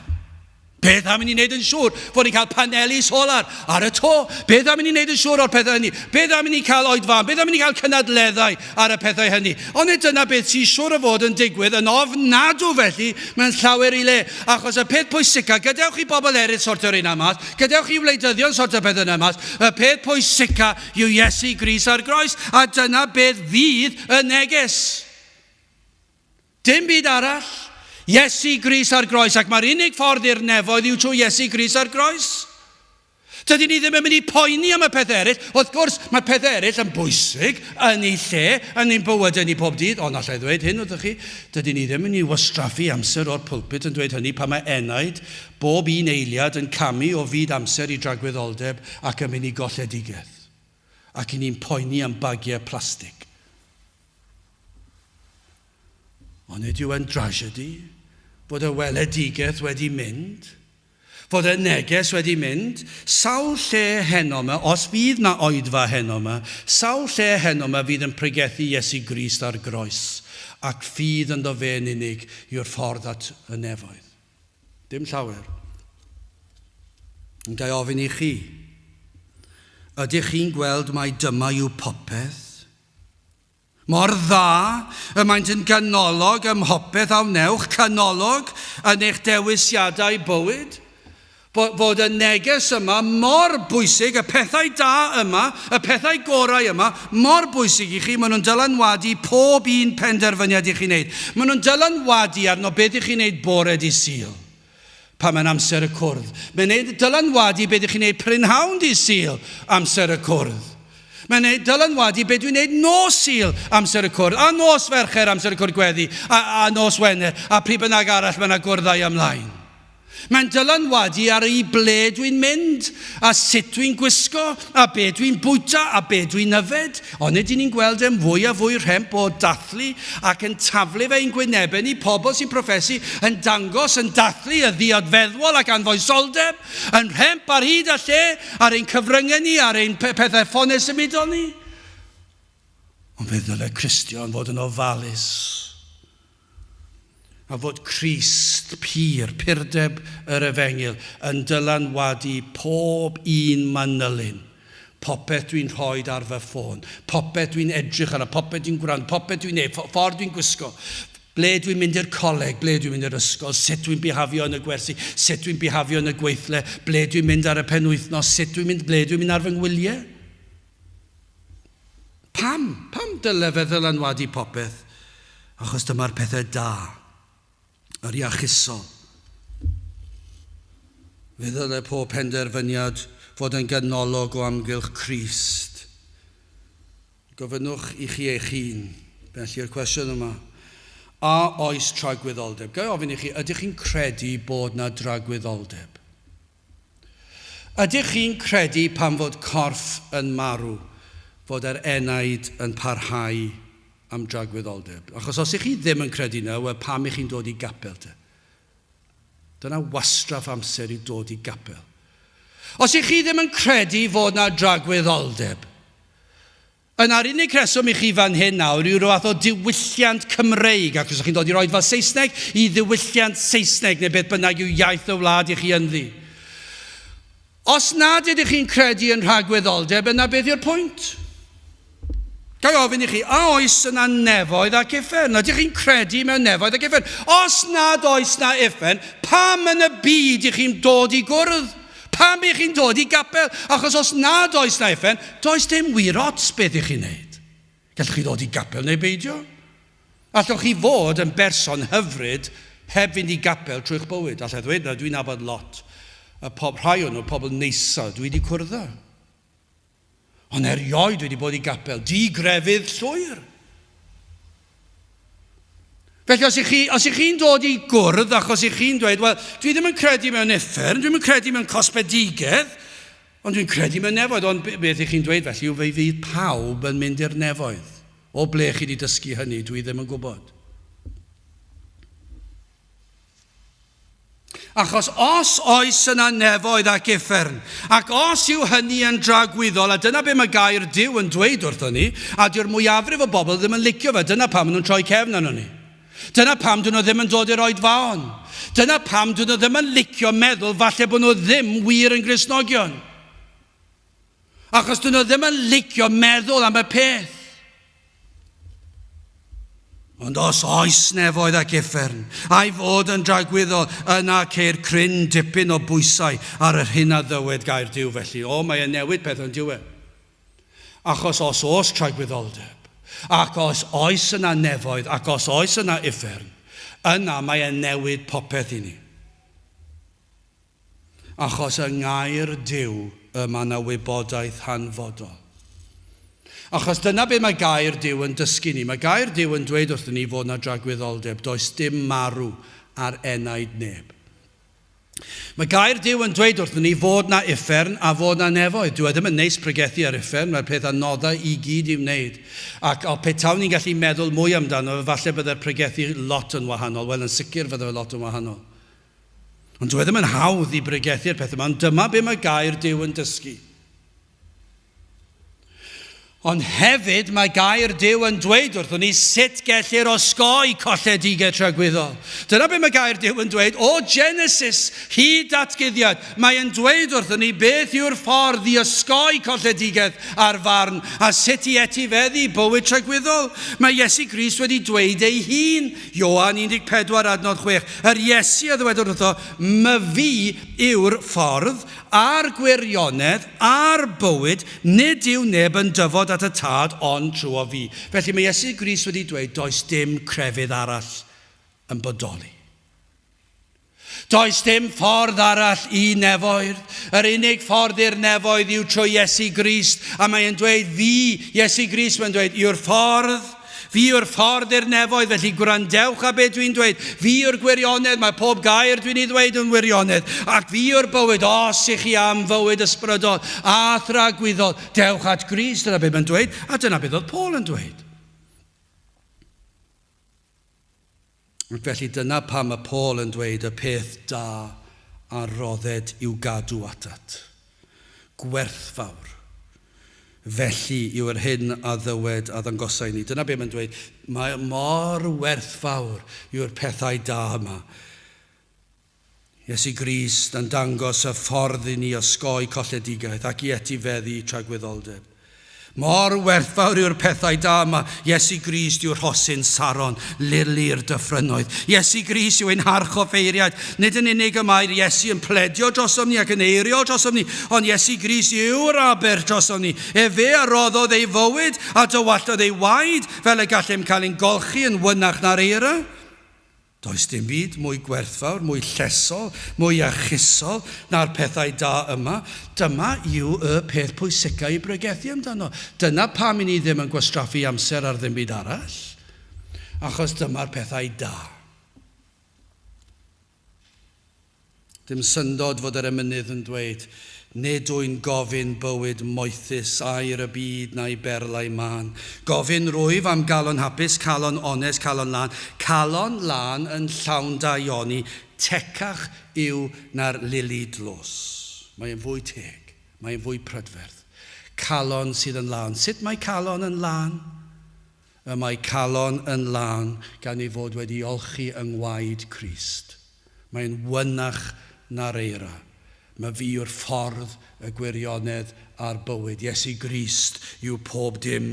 S1: Beth am i ni wneud yn siŵr fod ni'n cael paneli solar ar y to? Beth am i ni wneud yn siŵr o'r pethau hynny? Beth am i ni cael oed fan? Beth am i ni cael cynadleddau ar y pethau hynny? Ond nid dyna beth sy'n siŵr o fod yn digwydd yn ofnadw felly mewn llawer i le, achos y peth pwysicaf, gadewch i bobl eraill sortio'r un mas, gadewch i wleidyddion sortio'r peth yna mas, y peth pwysicaf Yw Iesu Grist ar groes, a dyna beth fydd y neges. Dim byd arall. Iesu Grist ar groes, ac mae'r unig ffordd i'r nefoedd yw trwy Iesu Grist ar groes. Dydyn ni ddim yn mynd i poeni am y peth eraill. Wrth gwrs, mae peth eraill yn bwysig yn ei lle yn ein bywydau ni pob dydd, ond allai ddweud hyn wrthych chi, dydyn ni ddim yn ei wastraffu amser o'r pulpit yn dweud hynny pan mae enaid Bob un eiliad yn camu o fyd amser i dragwyddoldeb ac am inni golledigaeth. Ac i ni'n poeni am bagiau plastig. Ond nid yw e'n drasiedi fod y weledigaeth wedi mynd, fod y neges wedi mynd, sawl lle heno ma, os fydd ma oedfa heno ma, sawl lle heno ma fydd yn pregethu Iesu Grist ar groes, ac ffydd ynddo fe'n unig yw'r ffordd at y nefoedd. Dim llawer. Ond ga i ofyn i chi, ydych chi'n gweld mai dyma yw popeth? Mor dda y maent yn ganolog ym mhopeth a wnewch, canolog yn eich dewisiadau bywyd? Bod y neges yma mor bwysig, y pethau da yma, y pethau gorau yma, mor bwysig i chi, maen nhw'n dylanwadu pob un penderfyniad i chi'n wneud. Maen nhw'n dylanwadu arno beth i chi'n wneud bore dydd Sul, pan mae'n amser y cwrdd. Mae'n ei dylanwadu beth i chi'n wneud prynhawn dydd Sul, amser y cwrdd. Mae'n ei dylanwadu beth dwi'n wneud nos Sul, amser y cwrdd, a nos Fercher, amser y cwrdd gweddi, a, a nos Wener, a pryd bynnag arall mae yna gwrddau ymlaen. Mae'n dylanwadu ar i ble dwi'n mynd, a sut dwi'n gwisgo, a be dwi'n bwyta, a be dwi'n yfed. Onid y'n ni'n gweld e'n fwy a fwy rhemp o dathlu ac yn taflu ef ein gwynebau ni, pobl sy'n proffesu, yn dangos, yn dathlu y ddiod feddwol ac anfoesoldeb, yn rhemp ar hyd a lle ar ein cyfryngau ni, ar ein pethau ffonau symudol ni? Ond fe ddylai Cristion fod yn ofalus. A fod Crist, pur, purdeb yr Efengyl, yn dylanwadu pob un manylyn, popeth dwi'n rhoid ar fy ffôn, popeth dwi'n edrych arno, popeth dwi'n gwrando, popeth dwi'n neud, ffordd dwi'n gwisgo, ble dwi'n mynd i'r coleg, ble dwi'n mynd i'r ysgol, sut dwi'n bihafio yn y gwersi, sut dwi'n bihafio yn y gweithle, ble dwi'n mynd ar y penwythnos, sut dwi'n mynd, ble dwi'n mynd ar fy ngwyliau? Pam? Pam dyle fe ddylanwadu popeth? Achos dyma'r pethau da. Yr iachusol. Fe ddyle pob penderfyniad fod yn ganolog o amgylch Crist. Gofynnwch i chi eich hun, felly, yr cwestiwn yma, A oes tragwyddoldeb? Ga i ofyn i chi, ydych chi'n credu bod 'na dragwyddoldeb? Ydych chi'n credu pan fod corff yn marw, fod yr enaid yn parhau am dragwyddoldeb? Achos os y'ch chi ddim yn credu 'na, wel pam y'ch chi'n dod i gapel te? Dyna wastraff amser i dod i gapel. Os y'ch chi ddim yn credu fod 'na dragwyddoldeb, Yna'r unig reswm i chi fan hyn nawr yw rhyw fath o diwylliant Cymreig, ac os ych chi'n dod i'r Oedfa Saesneg, i ddiwylliant Saesneg, neu beth bynnag yw iaith y wlad i chi ynddi. Os nad ydych chi'n credu yn rhagwyddoldeb, yna beth yw'r pwynt? Ga'i ofyn i chi, a oes yna nefoedd ac uffern? Ydych chi'n credu mewn nefoedd ac uffern? Os nad oes na uffern, pam yn y byd i chi'n dod i gwrdd? Pam y'ch chi'n dod i gapel? Achos os nad oes 'na effen, does dim wir ots beth y'ch chi'n neud. Gallwch chi ddod i gapel neu beidio. Allwch chi fod yn berson hyfryd heb fynd i gapel trwy'ch bywyd. Alla i ddweud na, dwi'n nabod lot, y pob rhai o nhw, pobl neisa dwi 'di cwrdd â. Ond erioed wedi bod i gapel. Di grefydd llwyr. Felly os ych chi, os ych chi'n dod i gwrdd ac os ych chi'n dweud, wel, dwi ddim yn credu mewn effern, dwi'n yn credu mewn cosbedigedd, ond dwi'n credu mewn nefoedd, ond beth ych chi'n dweud felly yw fe fydd pawb yn mynd i'r nefoedd. O ble chi wedi dysgu hynny, dwi ddim yn gwybod. Achos os oes yna nefoedd ac uffern, ac os yw hynny yn dragwyddol, a dyna be mae gair Duw yn dweud wrthon ni, a dyw'r mwyafrif o bobl ddim yn licio fe, dyna pam maen nhw'n troi cefn arnon ni. Dyna pam dyn nhw ddim yn dod i'r oedfaon. Dyna pam dyn nhw ddim yn licio meddwl falle bod nhw ddim wir yn Gristnogion. Achos dyn nhw ddim yn licio meddwl am y peth. Ond os oes nefoedd ac effern, a'i fod yn dragwyddol, yna ceir cryn dipyn o bwysau ar yr hyn a ddywed gair Dyw felly. O, mae e'n newid peth yn diwe. Achos os oes tragwyddoldeb, ac os oes yna nefoedd, ac os oes yna effern, yna mae e'n newid popeth i ni. Achos yng Ngair Duw y mae yna wybodaeth hanfodol. Achos dyna be mae Gair Duw yn dysgu ni. Mae Gair Duw yn dweud wrthyn ni fod yna dragwyddoldeb, does dim marw ar enaid neb. Mae Gair Duw yn dweud wrthyn ni fod yna uffern a fod yna nefoedd. Dwi e ddim yn neis pregethu ar uffern, mae'r peth anoddau i gyd i wneud. Ac o petawn ni'n gallu meddwl mwy amdano, falle byddai'r pregethu lot yn wahanol, wel yn sicr fydde fe lot yn wahanol. Ond dyw e ddim yn hawdd i bregethu'r peth yma, ond dyma be mae gair Duw yn dysgu. Ond hefyd mae gair Duw yn dweud wrthwn ni sut gellir osgoi colledigaeth tragwyddol. Dyna be mae gair Duw yn dweud o Genesis hyd datguddiad. Mae yn dweud wrthwn ni beth yw'r ffordd i osgoi colledigaeth ar farn a sut i etifeddu bywyd tragwyddol. Mae Iesu Grist wedi dweud ei hun Ioan 14 adnod 6, yr Iesu a ddywedwr wrtho, Myfi yw'r ffordd, a'r gwirionedd, a'r bywyd, nid yw neb yn dyfod at y Tad ond trwyo fi. Felly mae Iesu Grist wedi dweud does dim crefydd arall yn bodoli. Does dim ffordd arall i nefoedd. Yr unig ffordd i'r nefoedd yw trwy Iesu Grist, a mae e'n dweud, Fi, Iesu Grist, mae'n dweud, yw'r ffordd. Fi yw'r ffordd i'r nefoedd, felly gwrandewch a beth dwi'n dweud. Fi yw'r gwirionedd, mae pob gair dwi'n ei ddweud yn wirionedd. Ac fi yw'r bywyd, os i chi am fywyd ysbrydol a thragwyddol, dewch at Grist, dyna beth mae'n dweud, a dyna beth oedd Paul yn dweud. Felly dyna pam mae Paul yn dweud y peth da a rodded i'w gadw atat. Gwerthfawr. Felly yw yr hyn a ddywed a ddangosai inni. Dyna be mae'n dweud. Mae mor werthfawr yw'r pethau da yma. Iesu Grist yn dangos y ffordd i ni osgoi colledigaeth ac i etifeddu tragwyddoldeb. Mor werthfawr yw'r pethau da yma. Iesu Grist yw rhosyn Saron, lili i'r dyffrynnoedd. Iesu Grist yw ein harchoffeiriaid. Nid yn unig y mae'r Iesu yn pledio drosom ni ac yn eiriol drosom ni, ond Iesu Grist yw'r Aber drosom ni. Efe a roddodd ei fywyd a dywallodd ei waed fel y gallem cael ein golchi yn fwynach na'r eira. Does dim byd mwy gwerthfawr, mwy llesol, mwy archusol na'r pethau da yma. Dyma yw y peth pwysicaf i bregethu amdano. Dyna pam i ni ddim yn gwastraffu amser ar ddim byd arall, achos dyma'r pethau da. Dim syndod fod yr emynydd yn dweud, Nid wy'n gofyn bywyd moethus, air y byd na'i berlau mân. Gofyn rwyf am galon hapus, calon onest, calon lân, calon lân yn llawn daioni, tecach yw na'r lili dlos. Mae e'n fwy teg. Mae e'n fwy prydferth. Calon sydd yn lân. Sut mae calon yn lân? Y mae calon yn lân gan ei fod wedi olchi yng ngwaed Crist. Mae'n wynach na'r eira. Mae fi yw'r ffordd, y gwirionedd, a'r bywyd. Iesu Grist yw pob dim.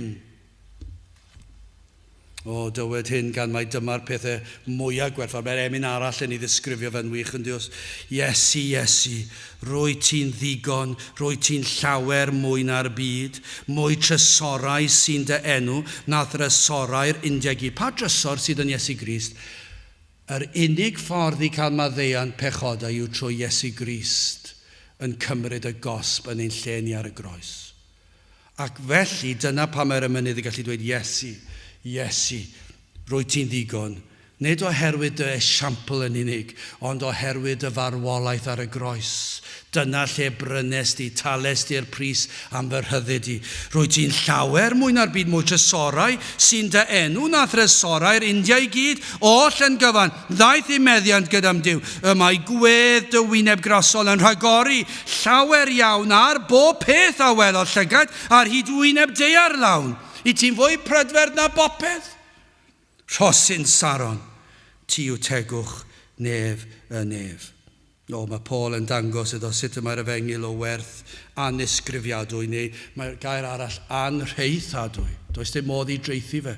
S1: O, dywed hyn gan mai dyma'r pethau mwyaf gwerthfawr. Mae'r emyn arall yn ei ddisgrifio fe'n wych, ynddi os? Iesu, Iesu, rwyt ti'n ddigon, rwyt ti'n llawer mwy na'r byd, mwy trysorau sy'n dy enw na thrysorau'r undeg i. Pa drysor sydd yn Iesu Grist? Yr unig ffordd i gael maddeuant pechodau yw trwy Iesu Grist yn cymryd y gosb yn ein lle ni ar y groes. Ac felly, dyna pam mae'r emynydd yn gallu dweud, Iesu, Iesu, rwyt ti'n ddigon, nid oherwydd dy esiampl yn unig, ond oherwydd dy farwolaeth ar y groes, Dyna lle brynest di, talest di'r pris am fy rhyddid di. Rwyt ti'n llawer mwy na'r byd mwy trysorau sy'n dy enw na thrysorau'r India i gyd, oll yn gyfan, ddaeth i meddiant gyda'm Duw, y mae gwedd dy wyneb grasol yn rhagori llawer iawn ar bob peth a welodd llygaid ar hyd wyneb daear lawn. Wyt ti'n fwy prydferth na bopeth. Rhosyn Saron, ti yw tegwch nef y nef. O, mae Paul yn dangos iddo sut y mae'r efengyl o werth annisgrifiadwy, neu mae'r gair arall anrheithadwy. Does dim modd i dreithi fe.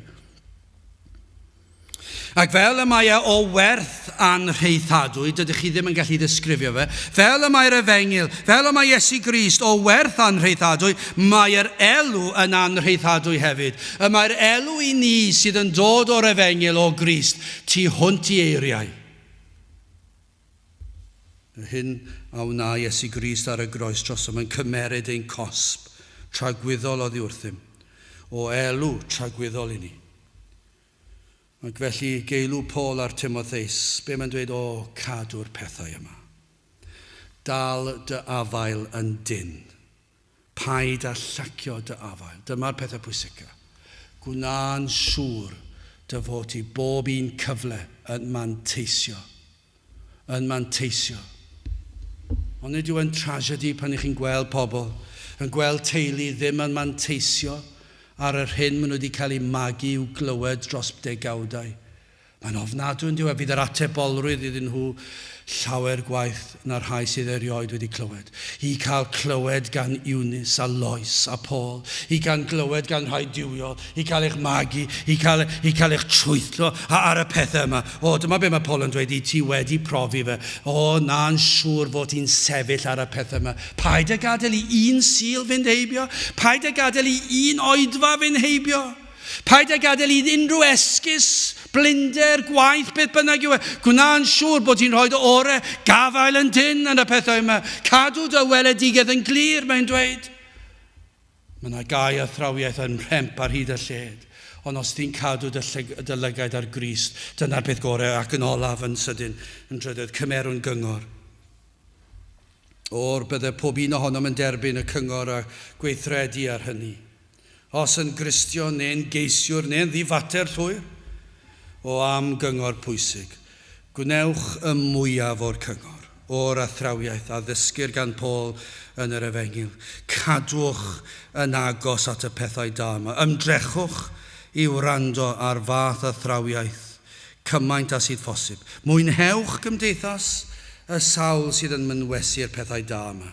S1: Ac fel y mae e o werth anrheithadwy, dydych chi ddim yn gallu ddisgrifio fe. Fel y mae'r efengyl, fel y mae Iesu Grist o werth anrheithadwy, mae'r elw yn anrheithadwy hefyd. Y mae'r elw i ni sydd yn dod o'r efengyl o Grist tu hwnt i eiriau. Y hyn a wna Iesu Grist ar y groes drosom yn cymeryd ein cosb tragwyddol oddi wrthym, o elw tragwyddol i ni. Ac felly, geilw Paul ar Timotheus, be mae'n dweud, O, cadw'r pethau yma. Dal dy afael yn dynn. Paid â llacio dy afael. Dyma'r pethau pwysica. Gwna'n siŵr dy fod ti bob un cyfle yn manteisio yn manteisio. Ond nid yw e'n trasiedi pan 'y chi'n gweld pobl, yn gweld teulu ddim yn manteisio ar yr hyn maen nhw wedi cael eu magu i'w glywed dros degawdau. Mae'n ofnadwy, yn dyw e? Bydd yr atebolrwydd iddyn nhw llawer gwaeth na'r rhai sydd erioed wedi clywed. I gael clywed gan Eunice a Lois a Paul, i gael clywed gan rhai duwiol, i cael eich magu, i cael, i cael eich trwytho a, ar y pethau yma. O, dyma be mae Paul yn dweud i ti wedi profi fe. O, na'n siŵr fod ti'n sefyll ar y pethau yma. Paid a gadael i un Sul fynd heibio. Paid a gadael i un oedfa fynd heibio. Paid â gadael i unrhyw esgus, blinder, gwaith, beth bynnag yw e, gwna'n siŵr bod ti'n rhoi dy orau, gafael yn dynn yn y pethau yma. Cadw dy weledigaeth yn glir, mae'n dweud. Mae yna gau a thrawiaeth yn rhemp ar hyd y lled, ond os ti'n cadw dy, llyg, dy lygaid ar Grist, dyna'r peth gorau ac yn olaf yn sydyn, yn drydydd, cymerwn gyngor. O'r bydde pob un ohonom yn derbyn y cyngor a gweithredu ar hynny. os yn Gristion neu'n geisiwr neu'n ddifater llwyr, o am gyngor pwysig, gwnewch y mwyaf o'r cyngor, o'r athrawiaeth a ddysgir gan Paul yn yr Efengyl, cadwch yn agos at y pethau da yma, ymdrechwch i wrando ar fath athrawiaeth cymaint â sydd phosib, mwynhewch gymdeithas y sawl sydd yn mynwesu'r pethau da yma.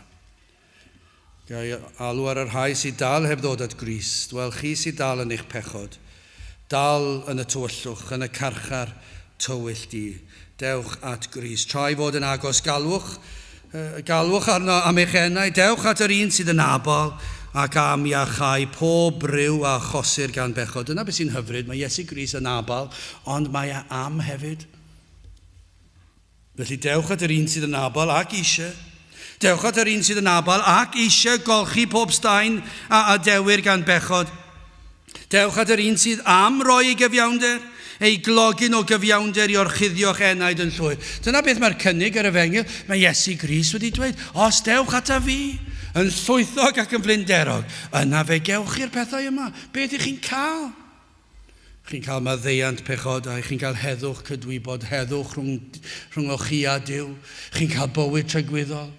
S1: Ga i alw ar y rhai sy dal heb ddod at Grist? Wel, chi sy dal yn eich pechod, dal yn y tywyllwch, yn y carchar tywyll di, dewch at Grist. Tra i fod yn agos, galwch, galwch arno am eich enau, dewch at yr un sydd yn abal ac am iachau pob bryw a achosir gan bechod. Dyna beth sy'n hyfryd, mae Iesu Grist yn abal, ond mae e am hefyd. Felly dewch at yr un sydd yn abal ac eisiau, dewch at yr un sydd yn abal ac eisiau golchi pob staen a adewir gan bechod. Dewch at yr un sydd am roi ei gyfiawnder, ei glogyn o gyfiawnder i orchuddio'ch enaid yn llwyr. Dyna beth mae'r cynnig yr efengyl, mae Iesu Gris wedi dweud, os dewch ata fi, yn llwythog ac yn flinderog, yna fe gewch chi'r pethau yma. Beth ych chi'n cael? Chi'n cael maddeuant pechodau, chi'n cael heddwch cydwybod, heddwch rhwng, rhwngwch chi a Duw, chi'n cael bywyd tragwyddol.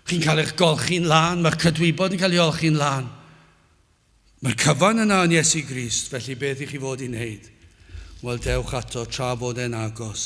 S1: Chi'n cael eich golchi'n lân, mae'ch cydwybod yn cael ei olchi'n lân. Mae'r cyfan yna yn Iesu Grist, felly beth i chi fod i'n neud? Wel, dewch ato tra fod e'n agos.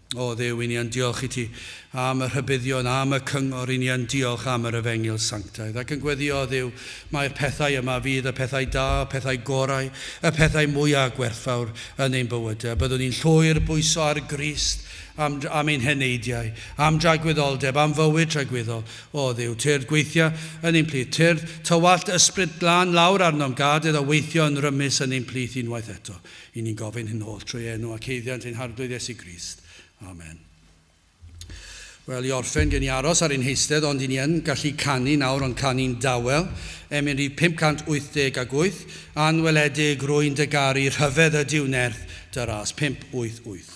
S1: O Dduw, 'y ni yn diolch i ti am y rhybuddion, am y cyngor, 'y ni yn diolch am yr efengyl sanctaidd, ac yn gweddio, O Dduw, mai'r pethau yma fydd y pethau da, y pethau gorau, y pethau mwya' gwerthfawr yn ein bywydau, byddwn ni'n llwyr bwyso ar Grist, am, am ein heneidiau, am dragwyddoldeb, am fywyd tragwyddol. O Dduw, tyrd gweithia' yn ein plith, tyrd Tywallt Ysbryd Glân lawr arnom, gad iddo weithio yn rymus yn ein plith unwaith eto. Yn ni'n gofyn hyn holl trwy enw ac haeddiant ein Harglwydd Iesu Grist. Amen. Wel, i orffen, gen i aros ar ein heistedd, ond i ni yn gallu canu nawr, ond canu'n dawel. Emyn rhif 580 ac wyth, Anweledig rwy'n dy garu, rhyfedd ydyw nerth dy ras. Pump, wyth, wyth.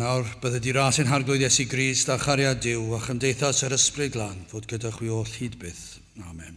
S2: nawr, bydde di ras ein harglwydd Iesu Grist a chariad Duw a chymdeithas yr Ysbryd Glân fod gyda chwi oll hyd byth. Amen.